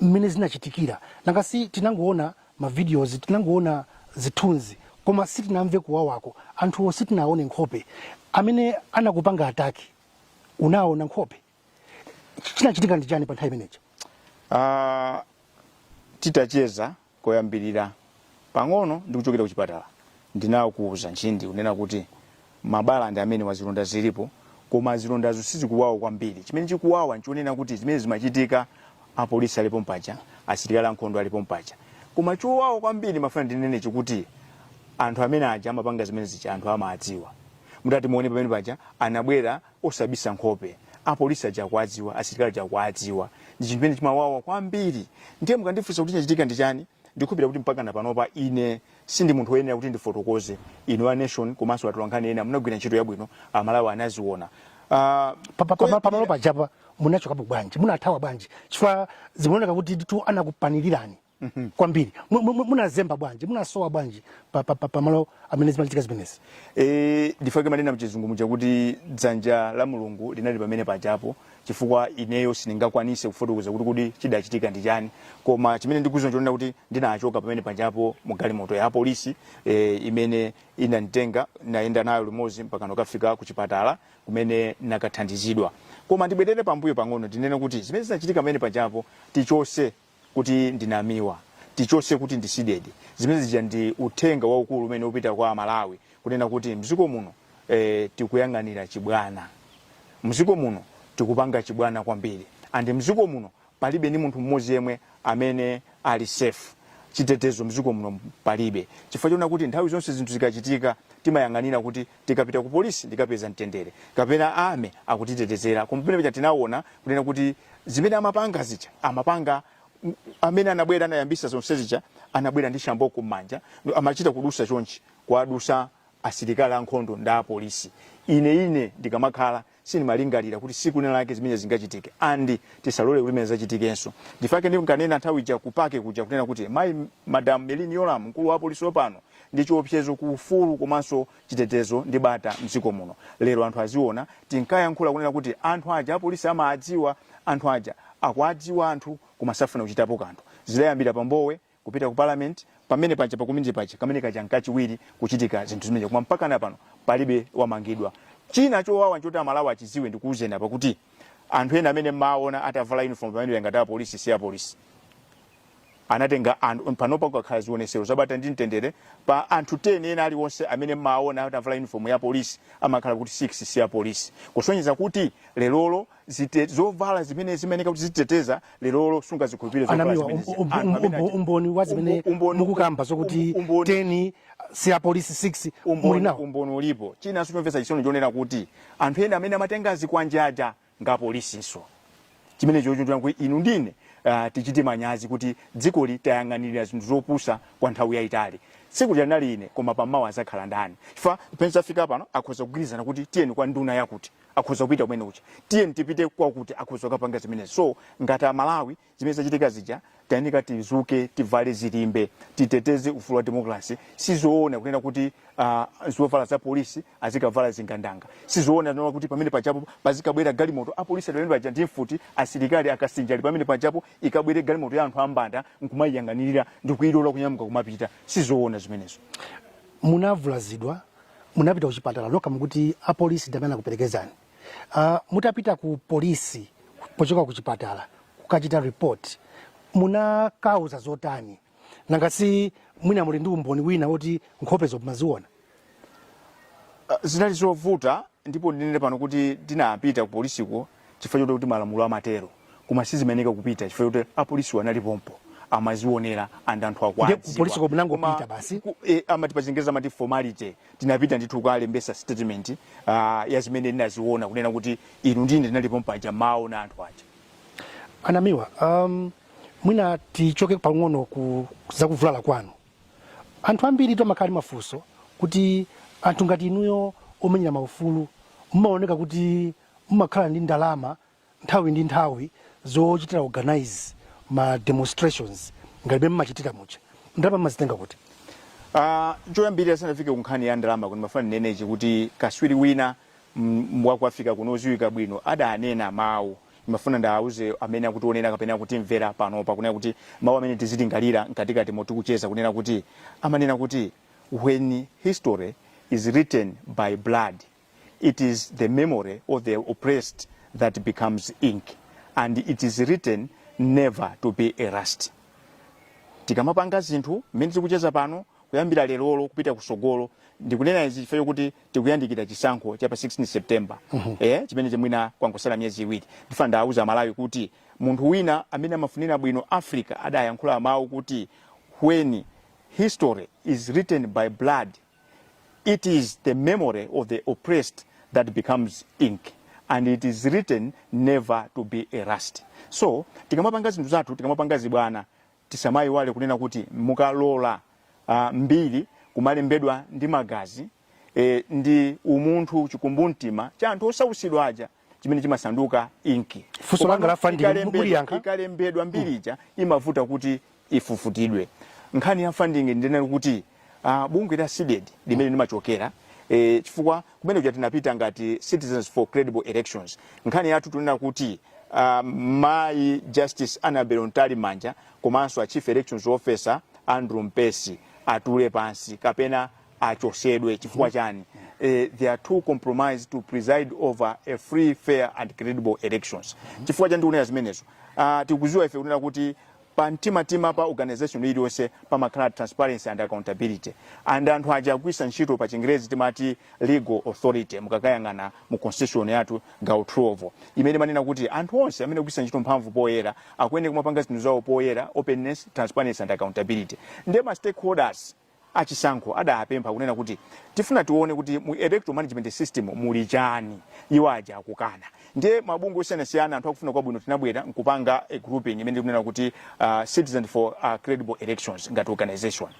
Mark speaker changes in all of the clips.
Speaker 1: mmene zinachitikira nanga si tinangoona ma videos tinangoona zithunzi koma sitinamve kuwawako anthuwo sitinaone nkhope amene anakupanga attack unaona nkhope chinachitika ndi chani pa nthawi imeneyo uh,
Speaker 2: titacheza Koyambirira, pang'ono ndikuchokera kuchipatala, ndinakuuza Ntchindi kunena kuti mabala ndi amenewa, zilonda zilipo, koma zilondazo sizikuwawa kwambiri. Chimene chikuwawa n'chonena kuti zimene zimachitika apolisi ali pompaja, asilikali ankhondo ali pompaja. Koma chowawa kwambiri ndimafuna ndinene n'chakuti anthu amene aja amapanga zimene zija anthu amadziwa. Mutati muone pamene paja anabwera osabisa nkhope apolisi aja akuwadziwa asilikali aja akuwadziwa ndi chinthu chimene chimawawa kwambiri ndiye mukandifunsa kuti chinachitika ndi chani ndikhulupirira kuti mpakana panopa ine sindi munthu woyenera kuti ndifotokoze inu a nation komanso atolankhani ena munagwira ntchito yabwino amalawi anaziona Ah, Pa- pa-
Speaker 1: pa- pamalo pajapa munachokapo bwanji munathawa bwanji chifukwa zimaoneka kutitu anakupanilirani Mhm. kwambiri Mu- mu- mu- munazemba bwanji munasowa bwanji pa- pa- pa- pamalo amene zimachitika zimenezi e,
Speaker 2: ndifake amanena mchizungu muja kuti dzanja la mulungu linali pamene pajapo chifukwa ineyo sindingakwanise kufotokoza kuti kuti chidachitika ndi chani koma chimene ndikuziwa n'chonena kuti ndinachoka pamene pajapo mu galimoto ya polisi e, imene inanditenga nayenda nayo limodzi mpaka ndikafika ku chipatala kumene nakathandizidwa koma ndibwerere pambuyo pang'ono ndinene kuti zimene zinachitika pamene pajapo tichose kuti ndi Namiwa tichose kuti ndi CDEDI zimene zija ndi uthenga waukulu umene upita kwa amalawi kunena kuti mziko muno eh, tikuyang'anira chibwana mziko muno tikupanga chibwana kwambiri and mziko muno palibe ndi munthu mmodzi yemwe amene ali safe chitetezo mziko muno palibe chifukwa chonena kuti nthawi zonse zinthu zikachitika timayang'anira kuti tikapita ku polisi ndikapeza mtendere kapena army akutitetezera koma pamene paja tinawona kunena kuti zimene amapanga zija amapanga m- amene anabwera anayambisa zonse zija anabwera ndi shamboko m'manja ndo amachita kudusa chonchi kuwadusa asilikali ankhondo ndi apolisi ine ine ndikamakhala sindimalingalira kuti siku lina lake zimenezi zingachitike and tisalole kuti zimenezi zichitikenso ndifake ndinkanena nthawi ija ku PAC kuja kunena kuti mayi madam Merlyne Yolamu mkulu wa polisi wopano ndi chiopsezo ku ufulu komanso chitetezo ndi bata mdziko muno lero anthu aziona tinkayankhula kunena kuti anthu aja apolisi amaadziwa anthu aja akuadziwa anthu koma safuna kuchitapo kanthu zidayambira pa Mbowe kupita ku parliament pamene paja pa community paja kamene kaja nkachiwiri kuchitika zinthu zimenezo koma mpaka na pano palibe wamangidwa china chowawa nchoti amalawi achiziwe ndikuuzeni apa kuti anthu ena amene mmaona atavala uniform pamene ngati apolisi si apolisi anatenga anthu panopa kukakhala zionesero zabata ndi mtendere pa anthu 10 ena aliwonse amene mmaona atavala uniform ya polisi amakhala kuti 6 si apolisi kusonyeza kuti lerolo zite zovala zimene zimayeneka kuti zititeteza lerolo sungazikhulupirire zovala anamiwa zimenezi. um- um- Anthu amene
Speaker 1: um- achita- umboni wa zimene Umbo- umboni- mukukamba zokuti um- umboni- 10 si apolisi 6 muli umboni nawo umboni ulipo
Speaker 2: china nchomvetsa chisoni chonena kuti anthu ena amene amatenga zikwanje aja ndi apolisinso chimene chochititsa kuti inu ndi ine uh, tichite manyazi kuti dzikoli tayang'anirira zinthu zopusa kwa nthawi yayitali tsiku linali ine koma mawa azakhala ndani chifukwa pamene zafika pano akhoza kugwirizana kuti tiyeni kwa nduna yakuti akhoza kupita kumene uja tiyeni tipite kwakuti akhoza kukapanga zimenezi so ngati amalawi zimene zachitika zija tayenera tizuke tivale zilimbe titeteze ufulu wa demokrasi sizoona kunena kuti uh, zovala za polisi azikavala zigandanga sizoona kunena kuti pamene pajapo pazikabwera galimoto apolisi pamene paja ndi mfuti asilikali akasinja ali pamene pajapo ikabwere galimoto ya anthu ambanda nkumayiyang'anirira ndikuyilola kunyamuka kumapita sizoona zimenezo munavulazidwa
Speaker 1: Munapita kuchipatala nokha mukuti apolisi ndi amene anakuperekezani. Uh, mutapita ku polisi pochoka ku chipatala kukachita report munakauza zotani? Nanga si mwina muli ndi umboni wina woti nkhopezo mumaziona? Uh,
Speaker 2: zinali zovuta ndipo ndinene pano kuti ndinapita ku polisiko chifukwa choti kuti malamulo amatero koma sindimayeneka kupita chifukwa choti apolisiwo anali pompo amazionera and anthu Ndiye akuwadziwa kupolisi komwe munangopita Koma
Speaker 1: basi? ku- eh, amati pachingereza
Speaker 2: amati formality tinapita ndithu kukalembesa statement ah, ya zimene ndinaziona kunena kuti inunso munali pompo paja mumawaona anthu aja
Speaker 1: anamiwa um, mwina tichoke pang'ono ku zakuvulala kwanu anthu ambiri akumakhala ndi mafunso kuti anthu ngati inuyo omenyera maufulu mumaoneka kuti mumakhala ndi ndalama nthawi ndi nthawi zochitira organize ma demonstrations ngati mmene mumachitira muja ndalama mmazitenga kuti Uh,
Speaker 2: choyambirira ndisanafike ku nkhani ya ndalama kuti ndimafuna ndinene ichi kuti kaswiri wina mm, wa ku Africa kuno odziwika bwino adanena mawu ndimafuna ndiwauze amene akutionera kapena akutimvera pano pakunena kuti mawu amene tizilingalira mkatikati motikucheza kunena kuti amanena kuti when history is written by blood It is the memory of the oppressed that becomes ink and it is written never to be erased. Tikamapanga zinthu mmene tikucheza pano kuyambira lerolo kupita kusogolo ndikunena izi chifukwa chokuti tikuyandikira chisankho cha pa 16 September eh, chimene chimwina kwangosala miyezi iwiri ndifuna ndiwauze Amalawi kuti munthu wina amene amafunira bwino Africa adayankhula mawu kuti when history is written by blood It is the memory of the oppressed that becomes ink and it is written never to be erased. So tikamapanga zinthu zathu, tikamapanga zibwana, tisamayiwale kunena kuti mukalola uh, mbiri kumalembedwa ndi magazi eh, ndi umunthu chikumbumtima cha anthu osautsidwa aja chimene chimasanduka inki Funso Komano langa la
Speaker 1: funding, ikalembedwa- muliyankha? ikalembedwa mbiri
Speaker 2: ija imavuta kuti ifufutidwe nkhani ya funding ndinali kuti uh, bungwe la cdedi limene ndimachokera eh, chifukwa kumene kuja tinapita ngati citizens for credible elections nkhani yathu tunena kuti uh, mayi justice annabel mtalimanja komanso a chief elections officer andrew mpesi atule pansi kapena achosedwe chifukwa chani eh, they are too compromised to preside over a free fair and credible elections chifukwa chani tikunena zimenezo uh, tikuziwa ife kunena kuti pa mtima pa organization iliyonse pamakhala transparency and accountability and anthu aja agwisa ntchito pa chingerezi timati legal authority mukakayang'ana mu constitution yathu gawo 12 imene imanena kuti anthu onse amene agwisa ntchito mphamvu poyera akuyenera kumapanga zinthu zawo poyera openness transparency and accountability nde ma stakeholders achisankho adapempha kunena kuti tifuna tione kuti mu Electoral Management System muli chani, iwo aja akukana. Ndiye mabungwe osiyanasiyana, anthu akufuna kwabwino tinabwera nkupanga a grouping imene tikunena kuti uh, Citizens for uh, Credible Elections ngati organization.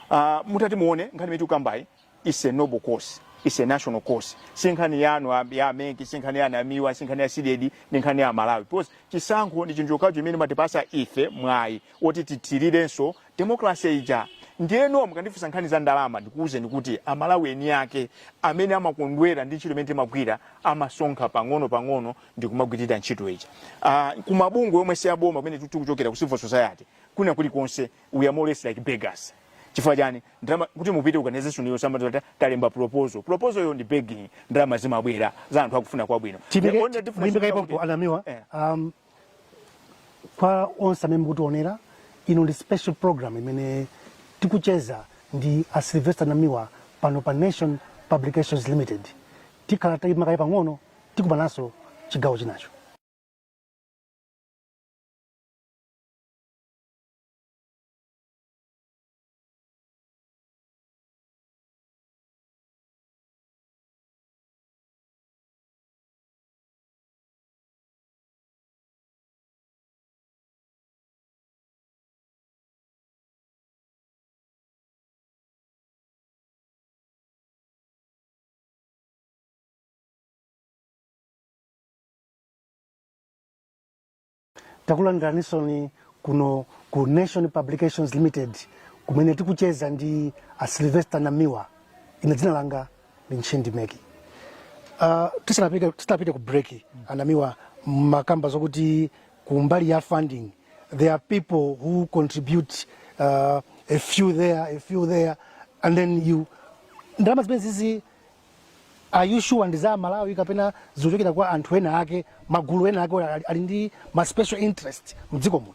Speaker 2: Uh, mutati muone nkhani imene tikukambayi is a noble cause is a national cause si nkhani yanu a- ya a MEC si nkhani ya a Namiwa si nkhani ya CDEDI ndi nkhani ya amalawi because chisankho ndi chinthu chokhacho chimene chimatipasa ife mwayi oti tithirirenso democracy ija. Ndiyeno mukandifunsa nkhani za ndalama ndikuuzeni kuti a Malawi eni ake amene amakondwera ndi ntchito imene timagwira amasonkha pang'ono pang'ono ndikumagwirira ntchito ija. Ah, kumabungwe omwe si aboma kumene tu- tikuchokera ku civil society kwina kulikonse we are more or less like beggars. Chifukwa chani ndalama kuti mupite organization iyo timati talemba proposal. Proposal yo ndi begging ndalama zimabwera za anthu akufuna kwabwino. The only difference is
Speaker 1: kuti- a Namiwa Eh. um, Kwa onse amene mukutionera, ino ndi special program imene tikucheza ndi a Sylvester Namiwa pano pa Nation Publications Limited. Tikhala tayima kaye pang'ono, tikumananso chigawo chinacho. takulandiraninsoni kuno ku nation publications limited kumene tikucheza ndi a sylvester namiwa ine dzina langa Ntchindi Meki uh, tisanapite tisanapite ku break a Namiwa mumakamba zokuti kumbali ya funding there are people who contribute uh, a few there a few there and then you ndalama zimenezizi are you sure ndi za amalawi kapena zikuchokera kwa anthu ena ake magulu ena ake ali- ali ndi ma special interest mdziko muno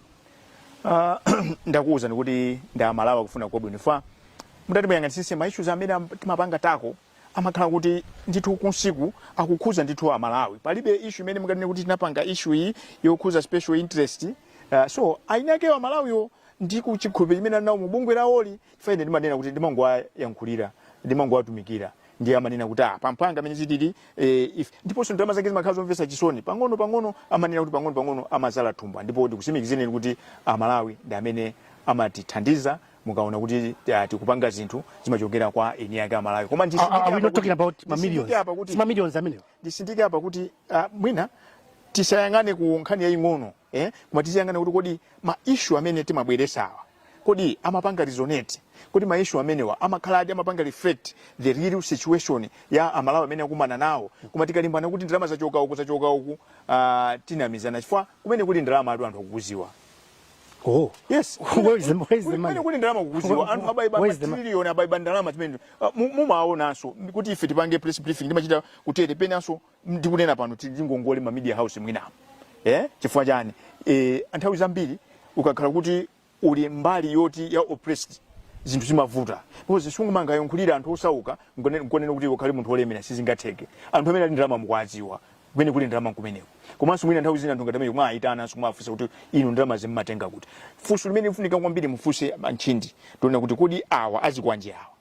Speaker 1: Ah,
Speaker 2: ndakuwuzani kuti ndi amalawi akufuna kwabwino chifukwa mutati muyang'anisise ma issues amene am- timapangawo amakhala kuti ndithu kumsika akukhuza ndithu amalawi palibe issue imene munganene kuti tinapanga issue iyi yokhuza special interest uh, so eni akewo amalawiwo ndi chikhulupiriro chimene ali nawo mu bungwe lawoli chifukwa ine ndimanena kuti ndimangowayankhulira ndimangowatumikira ndiye amanena kuti ah pa mphanga mmene zilili eh, if ndiponso ndalama zake zimakhala zomvetsa chisoni pang'ono pang'ono amanena kuti pang'ono pang'ono amadzadza thumba ndipo ndikutsimikizireni kuti amalawi ndi amene amatithandiza mukaona kuti ah, tikupanga zinthu zimachokera kwa eni ake amalawi koma Are, are- are we not talking about ma millions? nditsindike apa kuti It's ma millions amenewo. nditsindike apa kuti ah, mwina tisayang'ane ku nkhani yaying'ono Eh, koma tiziyang'ana kuti kodi ma issue amene timabweretsawa kodi amapanga resonate kodi ma issue amenewa amakhala kuti amapanga reflect the real situation ya amalawi amene akumana nawo koma tikalimbana kuti ndalama zachoka uku zachoka uku ah, tikunamizana chifukwa kumene kuli ndalama atu anthu akukudziwa
Speaker 1: Oh, yes
Speaker 2: Where is the- where is the
Speaker 1: Kuli- money? kumene kuli ndalama mukukudziwa
Speaker 2: anthu aba aba Where is the money? matrilioni aba aba ndalama zimene Ah, mu- mumaonanso kuti ife tipange press briefing ndimachita kutere penanso ndikunena pano tili ndi ngongole ma media house mwinamu eh? chifukwa chani eh, nthawi zambiri ukakhala kuti uli mbali yoti ya oppressed zinthu zimavuta because sungumangayankhulira anthu osauka nku- nkunena kuti ukhale munthu wolemera sizingatheke anthu amene ali ndi ndalama mukuwadziwa kumene kuli ndalama kumeneko komanso mwina nthawi zina anthu ngati amene mumawayitana simumafunsa kuti inu ndalama mumazitenga kuti funso limene likufunika kwambiri mufunse a Ntchindi tiona kuti kodi awa a zikwanje awa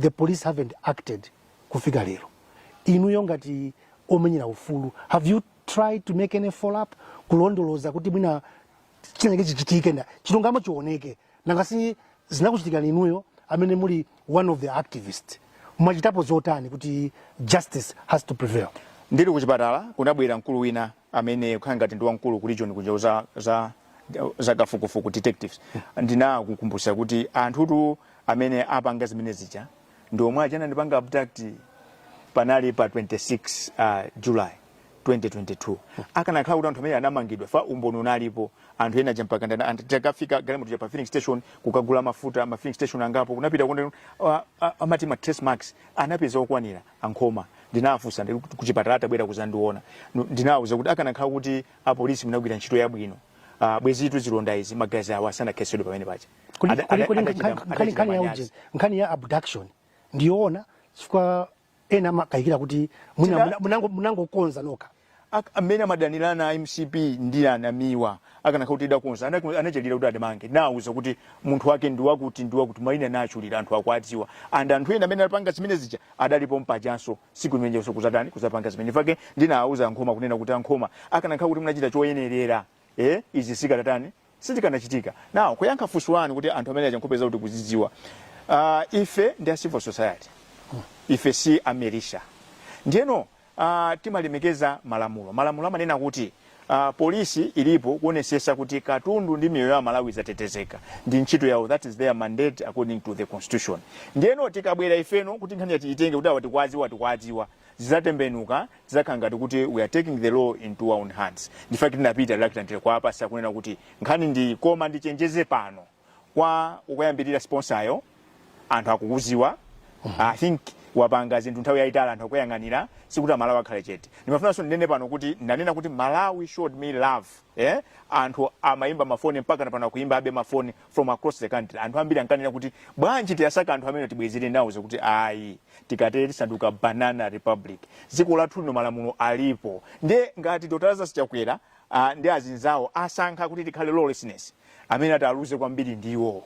Speaker 1: the police haven't acted kufika lero inuyo ngati omenyera ufulu have you tried to make any follow up kulondoloza kuti mwina chinachake chichitike ndi chilungamo chioneke nanga si zinakuchitikirani inuyo amene muli one of the activist mwachitapo zotani kuti justice has to prevail ndili kuchipatala
Speaker 2: kunabwera mkulu wina amene akukhala ngati ndi wamkulu ku region kunja za za za kafukufuku detectives ndinamukumbutsa kuti anthutu amene apanga zimene zija ndi omwe aja anandipanga abduct panali pa 26 uh, july 2022 akanakhala kuti anthu amene anamangidwa chifukwa umboni unalipo anthu ena aja mpaka ndana- anthu itakafika galimoto ija pa filling station kukagula mafuta ma filling station angapo kunapita kunde uh, uh, amati ma trace marks anapeza okwanira a Nkhoma ndinawafunsa ndi kuti kuchipatala atabwera kuzandiona ndinawauza kuti akanakhala kuti apolisi munagwira ntchito yabwino ah, bwezitu zilonda izi magazi awa sanakhetsedwe pamene paja
Speaker 1: nkhani ya abduction ndiyoona chifukwa ena amakayikira kuti munangokonza nokha a amene
Speaker 2: amadanirana mcp ndi a namiwa akanakhala kuti idakonza anachalira kuti adamange nauza kuti munthu wake ndi wakuti ndi wakuti maina nachulira anthu akuadziwa and anthu ena amene anapanga zimene zija adalipo mpajanso siku limenenso kuzatani kuzapanga zimenezi ifake ndinawauza ankhoma kunena kuti ankhoma akanakhala kuti munachita choyenerera eh izi sizikadatani Sizikanachitika. Now, kuyankha funso lanu kuti anthu amene aja nkhope zawo tikuzidziwa. Uh, ife ndi a civil society. Ife si a militia. Ndiyeno timalemekeza malamulo. Malamulo amanena kuti polisi ilipo kuonesesa kuti katundu ndi miyoyo ya aMalawi zatetezeka. Ndi ntchito yawo. That is their mandate according to the constitution. Ndiyeno tikabwera ifeno kuti nkhaniyi tiyitenge kuti awa tikwaziwa tikwaziwa. zidzatembenuka zidzakhala ngati kuti we are taking the law into our own hands ndifake tinapita reluctantly kwa apolisi kunena kuti nkhani ndi koma ndichenjeze pano kwa okuyambirira sponsayo anthu akukuziwa i think wapanga zinthu nthawi yayitali anthu akuyang'anira sikuti amalawi akhale chete ndimafunanso ndinene pano kuti ndanena kuti malawi showed me love eh? anthu amayimba mafoni mpaka na pano akuyimbabe mafoni from across the country anthu ambiri ankanena kuti bwanji tiwasake anthu amenewa tibwezere now ndikuti ayi tikatere tisanduka banana republic dziko lathu lino malamulo alipo ndiye ngati dr lazarus chakwera ndi azinzawo asankha kuti tikhale lawlessness amene ati aluze kwambiri ndiwo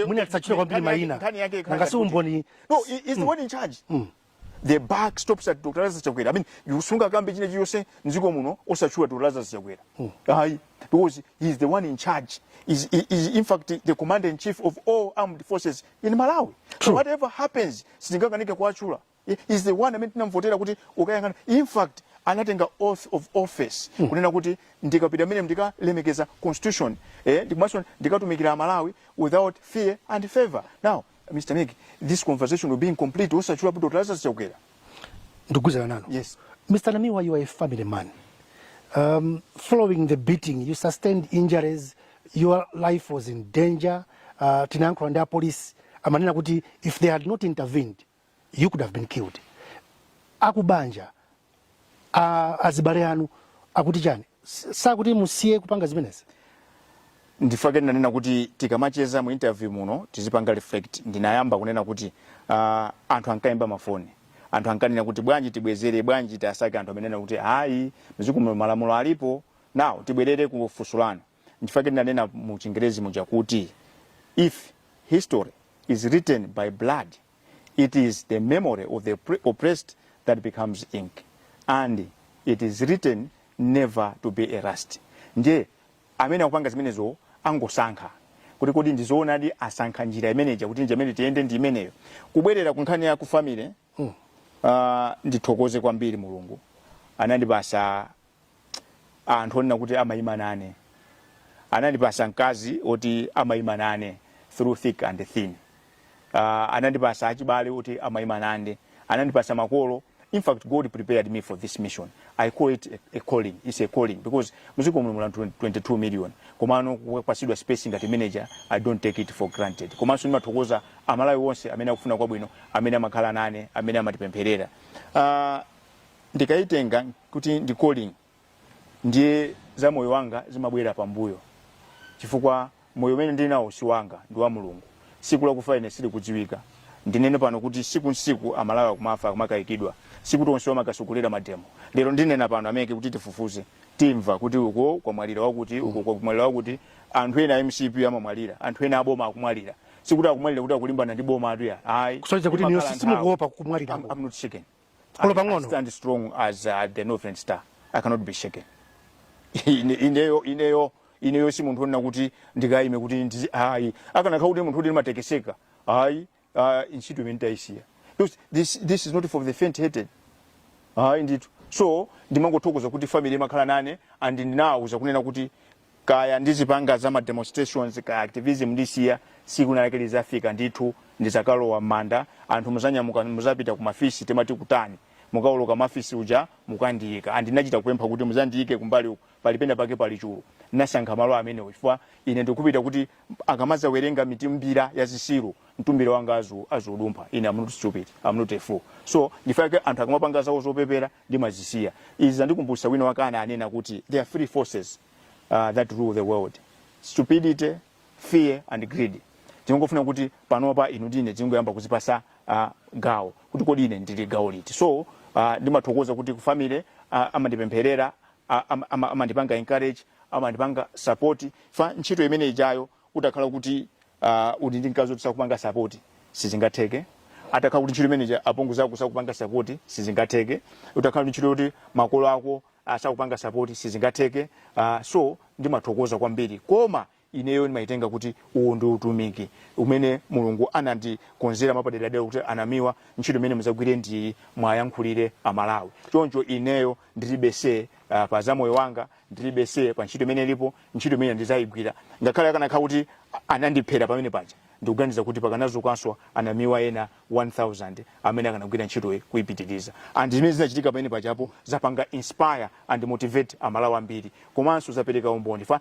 Speaker 2: mwina
Speaker 1: tisachule kwambiri mayina. Nanga si umboni no he- he's the one
Speaker 2: in charge the buck stops at dr lazarus chakwera i mean you sungakambe china chilichose mziko muno osachula dr lazarus chakwera mm. ayi because he is the one in charge is is in fact the commander in chief of all armed forces in malawi True. so whatever happens sitingakanike kuwachula he is the one amene tinamvotera kuti ukayang'ana in fact anatenga oath of office hmm. kunena kuti ndikapita mmenemo ndikalemekeza constitution eh, ndikatumikira malawi without fear and favor now Mr. Nick, this conversation will be incomplete. Osachula Dr. Lazarus Chakwera. Ndikugwirizana
Speaker 1: nanu. Yes. Mr. Namiwa,
Speaker 2: you are
Speaker 1: a family man. Um, following the beating, you sustained injuries, your life was in danger. Uh, tinayankhula ndi apolisi amanena kuti if they had not intervened you could have been killed akubanja azibale anu akuti chani sakuti musiye kupanga zimenezi
Speaker 2: ndifake ndinanena kuti tikamacheza mu interview muno tizipanga reflect ndinayamba kunena kuti uh, anthu ankayimba mafoni anthu ankanena kuti bwanji tibwezere bwanji tiwasake anthu amenewa kuti ayi mziko muno malamulo alipo now tibwerere ku funso lanu ndifake ndinanena mu chingerezi muja kuti if history is written by blood it is the memory of the pre- oppressed that becomes ink and it is written never to be erased ndiye amene akupanga zimenezo angosankha kuti kodi ndizoonadi asankha njira imeneja kuti njira imene tiyende ndi imeneyo kubwerera ku nkhani ya ku family uh, ndithokoze kwambiri mulungu anandipasa anthu onena kuti amayima nane anandipasa mkazi oti amayima nane through thick and thin uh, anandipasa achibale oti amayima nane anandipasa makolo in fact god prepared me for this mission i call it a, a calling it's a calling because muziko muno mula 22 million komano kupasidwa space ngati imeneja i don't take it for granted komanso ndimathokoza amalawi onse amene akufuna kwabwino amene amakhala nane amene amatipempherera uh, Ndikaitenga kuti ndi calling ndiye za moyo wanga zimabwera pambuyo chifukwa moyo umene ndili nawo si wanga ndi wa Mulungu. Siku lakufa ine silikudziwika. Ndinene pano kuti siku nsiku Amalawi akumafa akumakayikidwa. Sikuti onsewo amakasogolera mademo. Lero ndinena pano ameke kuti tifufuze timva kuti uko kwamwalira wakuti uko kwamwalira wakuti anthu ena a mcp amamwalira anthu ena aboma akumwalira sikuti akumwalira kuti akulimbana ndi boma anthuwa ayi kusonyeza kuti Imakhala inuyo nthawi.
Speaker 1: simukuopa kumwalira I'm, I'm not shaken.
Speaker 2: Olo I pang'ono.
Speaker 1: stand
Speaker 2: strong as uh, the northern star i cannot be shaken Ine- ineyo ineyo ineyo si munthu onena kuti ndikayime kuti ndizi- ayi akanakhala kuti munthu oti ndimatekeseka ayi ah, ntchito imeneyi nditayisiya Because this, this is not for the faint hearted hayi ndithu so ndimangothokoza kuti family imakhala nane and ndinawauza kunena kuti kaya ndizipanga za ma demonstrations kaya activism ndisiya siku lina lake lizafika ndithu ndizakalowa m'manda anthu muzanyamuka muzapita kumafisi timati kutani mukauluka mafisi uja mukandiyika and ndinachita kupempha kuti muzandiyike kumbali uku pali pena pake pali chulu ndinasankha malo amenewo chifukwa ine ndikupita kuti akamazawerenga mitumbira ya zisiru mtumbira wanga azu azaudumpha ine I'm not stupid I'm not a fool so ndifake anthu akamapanga zawo zopepera ndimazisiya. Izi zandikumbutsa wina wake ananena kuti there are three forces uh, that rule the world stupidity fear and greed tingofuna kuti panopa inu ndine tingoyamba kuzipasa uh, gawo kuti kodi ine ndili gawo liti so uh, ndimathokoza kuti ku family uh, amandipempherera uh, am- ama- amandipanga encourage amandipanga support fa ntchito imene ijayo utakhala kuti uh, uli ndi mkazi oti sakupanga sapoti sizingatheke atakhala kuti ntchito imeneyi apongozi ako sakupanga sapoti sizingatheke utakhala ndi ntchito yoti makolo ako asakupanga sapoti sizingatheke uh, so ndimathokoza kwambiri koma ineyo ndimayitenga kuti uwu ndi utumiki umene mulungu anandikonzera mwapaderadera kuti a Namiwa ntchito imene muzagwire ndi iyi mwayankhulire amalawi choncho ineyo ndilibe say uh, pa za moyo wanga ndilibe say pa ntchito imene ilipo ntchito imene ndizayigwira ngakhale akanakhala kuti anandiphera pamene paja ndikuganiza kuti pakanazukanso anamiwa ena 1000 amene akanagwira ntchitoyi kuipitiriza and zimene zinachitika pamene pajapo zapanga inspire and motivate amalawi ambiri komanso zapereka umboni fa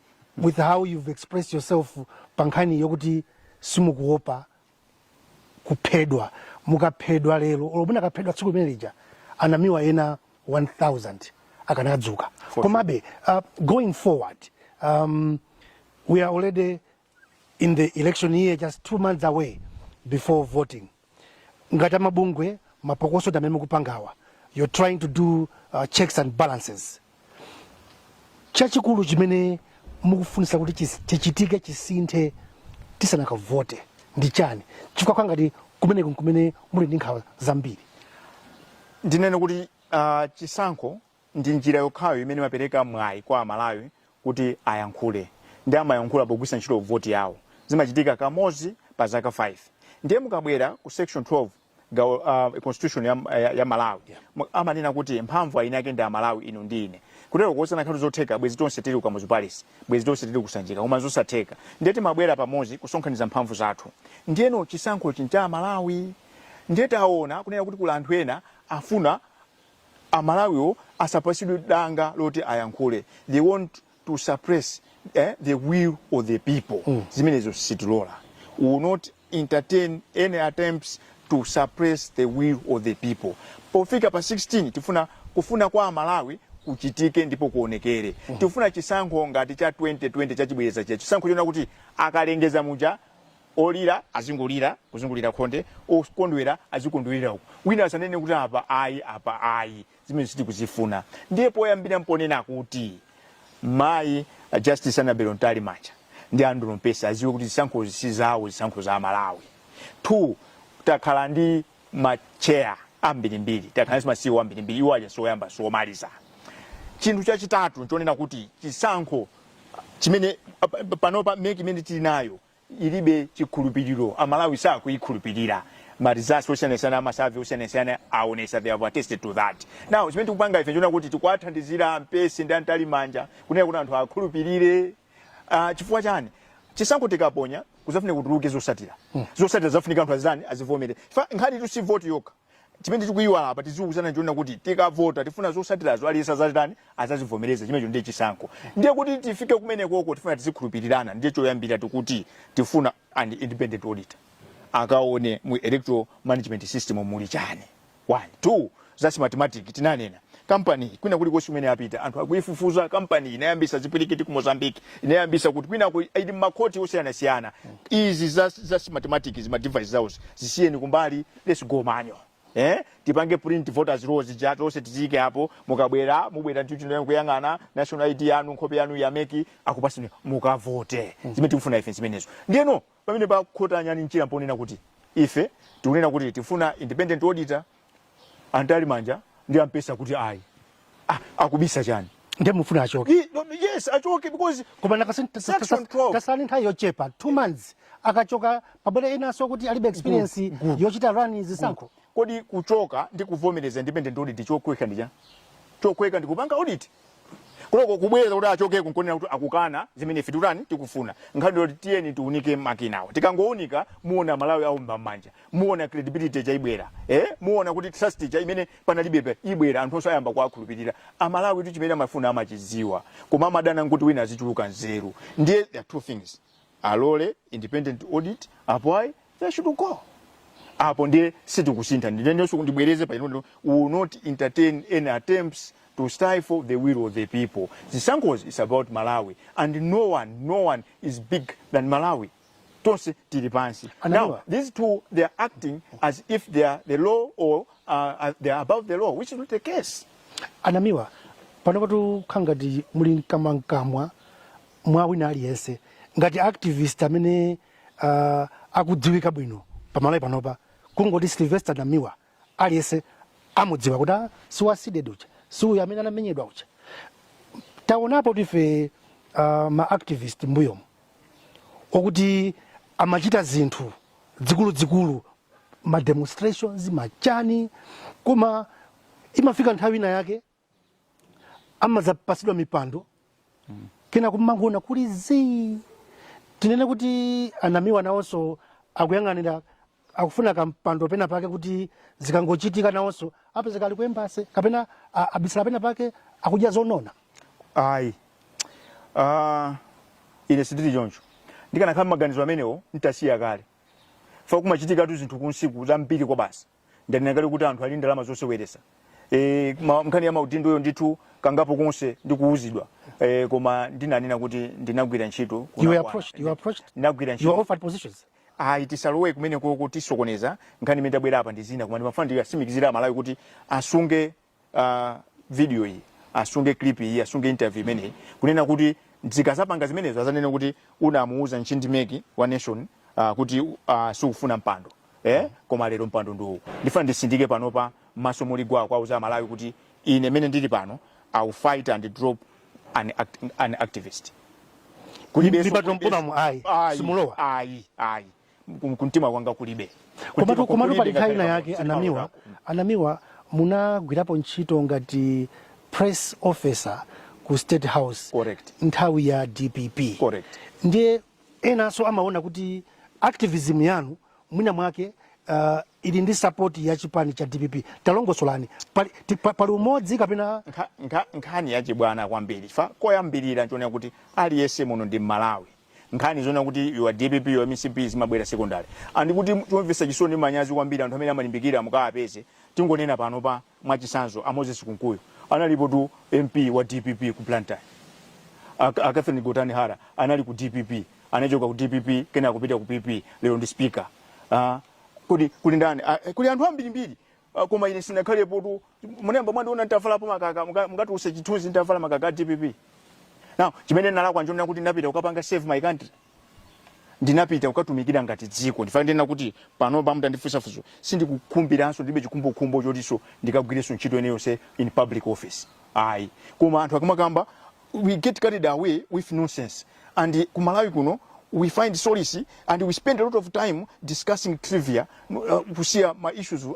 Speaker 1: with how you've expressed yourself pa nkhani yokuti simukuopa kuphedwa mukaphedwa lero olo munakaphedwa tsiku limene lija anamiwa ena 1000 akanadzuka komabe uh, going forward um, we are already in the election year just two months away before voting ngati amabungwe mapokoso amene mukupangawa you're trying to do uh, checks and balances chachikulu chimene mukufunisa kuti chis- chichitike chisinthe tisanakavote ndi chani chifukwa kwangati kumeneko nkumene muli ndi nkhawa zambiri
Speaker 2: ndinene kuti uh, chisankho ndi njira yokhayo imene imapereka mwayi kwa Amalawi kuti ayankhule ndi amayankhula pogwiritsa ntchito voti yawo. Zimachitika kamodzi pa zaka 5. Ndiye mukabwera ku section 12 gawo uh, constitution ya, ya, ya Malawi yeah. amanena kuti mphamvu eni ake ndi Amalawi inu ndi ine kutero kuti zinakhala zotheka bwezi tonse tili ku Kamuzu Palace bwezi tonse tili ku Sanjika koma zosatheka ndiye timabwera pamodzi kusonkhaniza mphamvu zathu ndiyeno chisankho ncha Amalawi ndiye taona kunena kuti kuli anthu ena afuna amalawiwo asapatsidwe danga loti ayankhule they want to suppress eh, the will of the people mm. zimenezo sitilola we will not entertain any attempts to suppress the will of the people pofika pa 16 kufuna kwa amalawi kuchitike ndipo kuonekere mm. tifuna chisankho ngati cha 2020 chachibwereza chija chisankho chonena kuti akalengeza muja Olira azingolira kuzungulira khonde, okondwera azikondwera uko. Wina asanene kuti apa ayi, apa ayi, zimene sitikuzifuna. Ndiye poyambira mponena kuti mayi a Justice Annabel Mtalimanja ndi Andrew Mpesi aziwe kuti zisankhozi si zawo, zisankho za Amalawi. Two, takhala ndi macheya ambirimbiri, takhala ndi ma CEO ambirimbiri, iwo aja sioyamba siomaliza. Chinthu chachitatu nchonena kuti chisankho chimene panopa MEC imene tili nayo ilibe chikhulupiliro amalawi sakuyikhulupilira ma results osiyanasiyana a ma survey osiyanasiyana aonesa they have attested to that now chimene tikupanga ife nchonena kuti tikuwathandizira Mpesi ndi a Mtalimanja kunena kuti anthu akhulupilire uh, chifukwa chani chisankho tikaponya kuzafunika kutuluke zosatira zosatira zafunika anthu azitani azivomere nkhanitu si vote yokha chimene tikuyiwala apa tiziwuzana choona kuti tikavota tifuna zotsatirazo aliyense azazitani azazivomereza chimenecho ndiye chisankho ndiye kuti tifike kumenekoko tifuna tizikhulupirirana ndiye choyambira tikuti tifuna an independent auditor akaone mu electoral management system muli chani one two za smartmatic tinanena kampani iyi kwina kulikonse kumene yapita anthu akuyifufuza kampani iyi inayambisa zipwirikiti ku mozambique inayambisa kuti kwinako ili mmakhoti osiyanasiyana izi za smartmatic izi ma device zawozi zisiyeni kumbali let's go manual eh tipange print voters roll zija tonse tiziike apo mukabwera mubwera ntchito kuyang'ana national id yanu nkhope yanu ya mec akupasani mukavote zimene tikufuna ife zimenezo ndiyeno pamene pakhota nyani mchira mponena kuti ife tikunena kuti tifuna independent auditor a mtalimanja ndi a mpesi akuti ayi Ah, akubisa chani? Ndiye mufuna
Speaker 1: achoke. Ye- no, Yes,
Speaker 2: achoke because Koma
Speaker 1: nakasani Section 12. tatsala ndi nthawi yochepa 2 months akachoka pabwere enanso okuti alibe experience good. yochita run zisankho. kodi kuchoka
Speaker 2: ndi kuvomereza independent audit chokhweka ndi chani? Chokhweka ndi kupanga audit. Kunoko kubwereza kuti achokeko nkuonera kuti akukana zimene ife tikutani tikufuna. Nkhani yoti tiyeni tiunike makinawo. Tikangounika muona aMalawi aomba mmanja. muona credibility ija ibwera eh muona kuti trust ija imene panalibepo ibwera anthu onse ayamba kuwakhulupirira amalawitu chimene amafuna amachidziwa koma amadana nkuti wina azichuluka nzeru ndiye there are two things alole independent audit apo ayi they should go apo ndiye sitikusintha ndinenenso kuti ndibwereze pano we'll not entertain any attempts to stifle the will of the people zisankhozi is about malawi and no one no one is big than malawi tonse tili pansi now a Namiwa. these two they are acting as if they are the law or uh, uh, they are above the law which is not the case a
Speaker 1: namiwa panopatu mukhala ngati muli mkamwamkamwa mwa wina aliyense ngati activist amene uh, akudziwika bwino pamalawi panopa kungoti sylvester namiwa aliyense amudziwa kuti ah, si wa cdedi uja si uyu amene anamenyedwa uja taonapotu ife uh, ma activist mbuyomu okuti amachita zinthu dzikuludzikulu ma demonstrations machani koma imafika nthawi ina yake amadzapatsidwa mipando kena kumangoona kuli zii tinene kuti a namiwa nawonso akuyang'anira akufuna kampando pena pake kuti zikangochitika nawonso apezeka ali ku embassy kapena a- abisala pena pake akudya zonona
Speaker 2: ayi Ah, ine sindili choncho ndikanakhala maganizo amenewo ntasiya kale chifukwa kumachitikatu zinthu kunsiku zambiri kwabasi ndanena kale kuti anthu ali ndi ndalama zoseweretsa e, ma- nkhani ya maudindoyo ndithu kangapo konse ndikuwuzidwa e, koma ndinanena kuti ndinagwira ntchito You were kunakwana. approached. You were
Speaker 1: approached. ndinagwira You were ntchito
Speaker 2: offered
Speaker 1: positions. ayi
Speaker 2: tisalowe kumeneko kutisokoneza nkhani imene tabwera apa ndi zina koma ndimafuna ndiwasimikizire amalawi kuti asunge uh, video iyi asunge clip iyi asunge interview imeneyi kunena kuti zikazapanga zimenezo azanene kuti unamuuza nchindimeki wa nation uh, kuti uh, ah, sukufuna mpando eh? koma lero mpando ndiwu ndifuna ndisindike panopa maso muli gwa kuwauza amalawi kuti ine mene ndili pano i will fight and drop an, act, an activist
Speaker 1: kulibeso ayi simulowa ayi ayi
Speaker 2: ku- kumtima kwanga kulibe Kumtima komatu kwanga komatu kulibe pali nkhani
Speaker 1: ngakhale ina yake pamodzi, a namiwa pamodzi ako. a namiwa munagwirapo ntchito ngati press officer ku state house Correct. nthawi ya
Speaker 2: dpp
Speaker 1: Correct. ndiye enanso amaona kuti activism yanu mwina mwake uh, ili ndi support ya chipani cha dpp talongosolani pali, ti- pa- pali umodzi kapena Nkha- nkha- nkhani
Speaker 2: yachibwana kwambiri chifukwa koyambirira nchonena kuti aliyense muno ndi mmalawi nkhani zonena kuti you are dpp you are mcp zimabwera secondary ndikuti chomvetsa chisoni ndi manyazi kwambiri anthu amene amalimbikira mukapeze tingonena panopa mwachisanzo a moses kunkuyu analipotu mp wa dpp ku blantyre a a catherine gotani hara anali ku dpp anachoka ku dpp kenako kupita ku pp lero ndi speaker Ah, kodi kuli ndani Ah, kuli anthu ambirimbiri Ah, koma ine sinakhalepotu munayamba mwandiona nditavalapo makaka munga- mungatuluse chithunzi nditavala makaka a dpp now chimene ndinalakwa nchonena kuti ndinapita kukapanga serve my country ndinapita kukatumikira dziko nchifukwa chake ndikunena kuti panopa mutandifunsa funso sindikukhumbiranso ndilibe chikhumbokhumbo chotinso ndikagwirenso ntchito ina iliyonse in public office ayi koma anthu akamakamba we get carried away with nonsense and ku malawi kuno we find solace and we spend a lot of time discussing trivia uh, kusiya ma issues uh,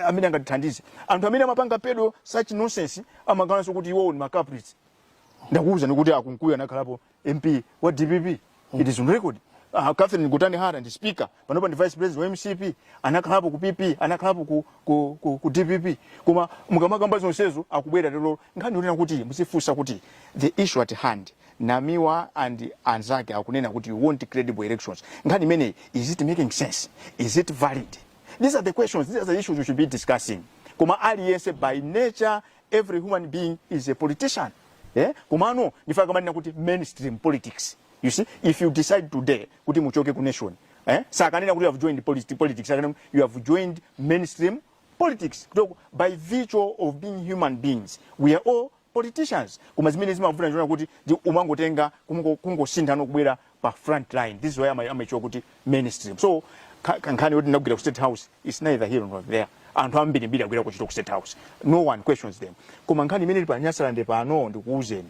Speaker 2: amene angatithandize anthu amene amapanga peddle such nonsense amakhalanso kuti iwowo ndi ma culprits ndakuwuzani kuti a kunkuyu anakhalapo mp wa dpp it is on record uh, Catherine Gotani Hara ndi speaker panopa ndi vice president wa MCP anakhalapo ku PP anakhalapo ku, ku, ku, ku DPP koma mukamakamba zonsezo kubwera lero nkhani yonena kuti muzizifunsa kuti the issue at hand Namiwa and anzake akunena kuti you want credible elections nkhani imeneyi is it making sense is it valid these are the questions these are the issues we should be discussing koma aliyense by nature every human being is a politician eh? komano nchifukwa amanena kuti mainstream politics you see if you decide today kuti muchoke ku nation eh? sakanena kuti you have joined politi- politics akanena you have joined mainstream politics koma by virtue of being human beings we are all politicians koma zimene zimavuta nchonena kuti umangotenga kungo- kungosintha nkubwera pa front line this is why ama- amaichula kuti mainstream so ka- ka- nkhani yoti ndinagwira ku state house is neither here nor there anthu ambirimbiri agwira ntchito ku state house no one questions them koma nkhani imene ili pa nyasalande pano ndikuuzeni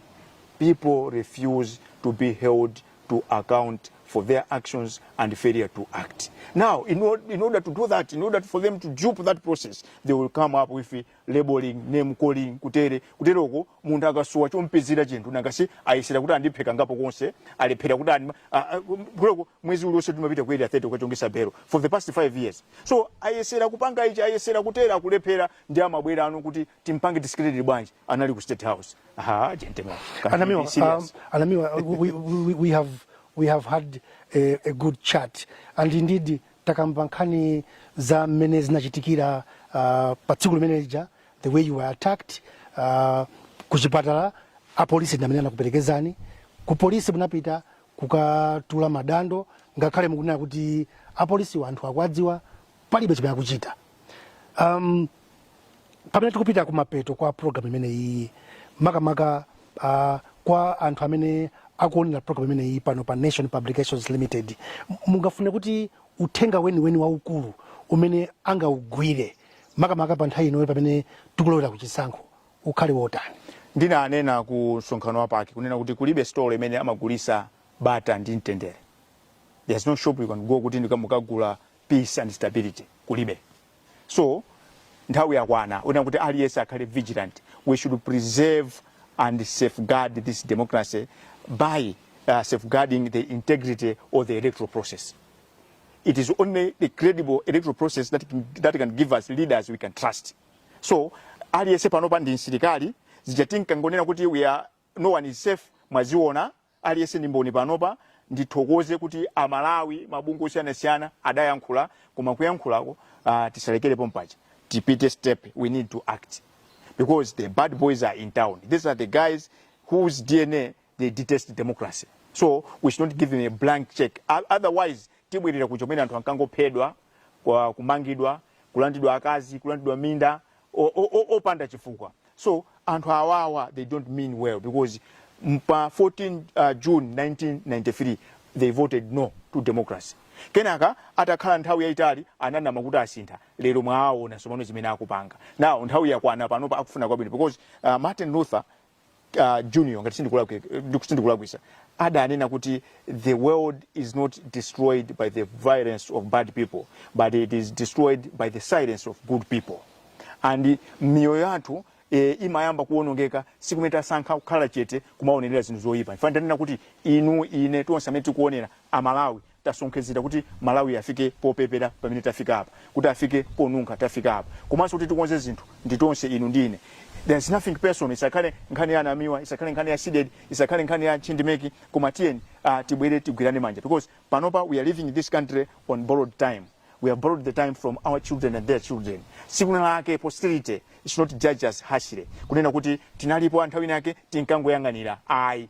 Speaker 2: people refuse to be held to account for their actions and failure to act. Now, in, or, in order to do that, in order for them to dupe that process, they will come up with labelling, name calling, kutere, kuteroko munthu akasowa chomupezera chinthu nanga si ayesera kuti andiphe kangapo konse alephera kuti andima a- a- kuteroko mwezi uliwonse timapita ku area 30 kukachongesa belo for the past 5 years so ayesera kupanga ichi ayesera kutera akulephera ndi amabwerano kuti timpange discredit bwanji anali ku state house aha gentlemen can you Anamiwa, be serious? um, Anamiwa, we,
Speaker 1: we, we, we have we have had a, a good chat, and indeed takamba nkhani za mmene zinachitikira uh, pa tsiku limene lija the way you were attacked uh, ku chipatala apolisi ndi amene anakuperekezani ku polisi munapita kukatula madando ngakhale mukunena kuti apolisi anthu akuwadziwa palibe chimene akuchita um, pamene tikupita kumapeto kwa programu imeneyi makamaka uh, kwa anthu amene akuonera programu imeneyi pano pa nation publications limited m- mungafune kuti uthenga weniweni waukulu umene angaugwire makamaka pa nthawi inoyi pamene tikulowera ku chisankho ukhale wotani
Speaker 2: ndinanena ku msonkhano wa PAC kunena kuti kulibe store imene amagulisa bata ndi mtendere there's no shop you can go kuti ndika- mukagule peace and stability kulibe so nthawi yakwana yonena kuti aliyense akhale vigilant we should preserve and safeguard this democracy by uh, safeguarding the integrity of the electoral process it is only the credible electoral process that can, that can give us leaders we can trust so aliyense panopa ndi msilikali zija tinkangonena kuti No one is safe mwaziona aliyese ndi mboni panopa ndithokoze kuti amalawi mabungwe osiyanasiyana adayankhula koma kuyankhulako uh, tisalekere pompaja tipite step we need to act because the bad boys are in town these are the guys whose dna they detest democracy so we should not give them a blank check O- otherwise tibwerera kuja kumene anthu ankangophedwa kumangidwa kulandidwa akazi kulandidwa minda opanda chifukwa so anthu awawa they don't mean well because pa 14 uh, june 1993 they voted no to democracy kenaka atakhala nthawi yayitali ananama kuti asintha lero mwaawona sopano zimene akupanga now nthawi yakwana panopa a kufuna kwabwino because uh, martin luther Junior ngati sindikulakwisa adanena kuti the world is not destroyed by the violence of bad people but it is destroyed by the silence of good people and miyoyo yathu e, imayamba kuonongeka tsiku limene tasankha kukhala chete kumaonerera zinthu zoyipa ofanana ndi kunena kuti inu ine tonse amene tikuonera amalawi tasonkhezera kuti Malawi afike popepera pamene tafika apa, kuti afike ponunkha tafika apa, komanso kuti tikonze zinthu ndi tonse inu ndi ine. There is nothing personal, isakhale nkhani ya Namiwa, isakhale nkhani ya Cdedi, isakhale nkhani ya Ntchindi Meki, koma tiyeni uh, tibwere tigwirane manja because panopa we are living in this country on borrowed time. We have borrowed the time from our children and their children. Tsiku lina lake posterity should not judge us harshly. Kunena kuti tinalipo panthawi yake tinkangoyanganira. Ayi,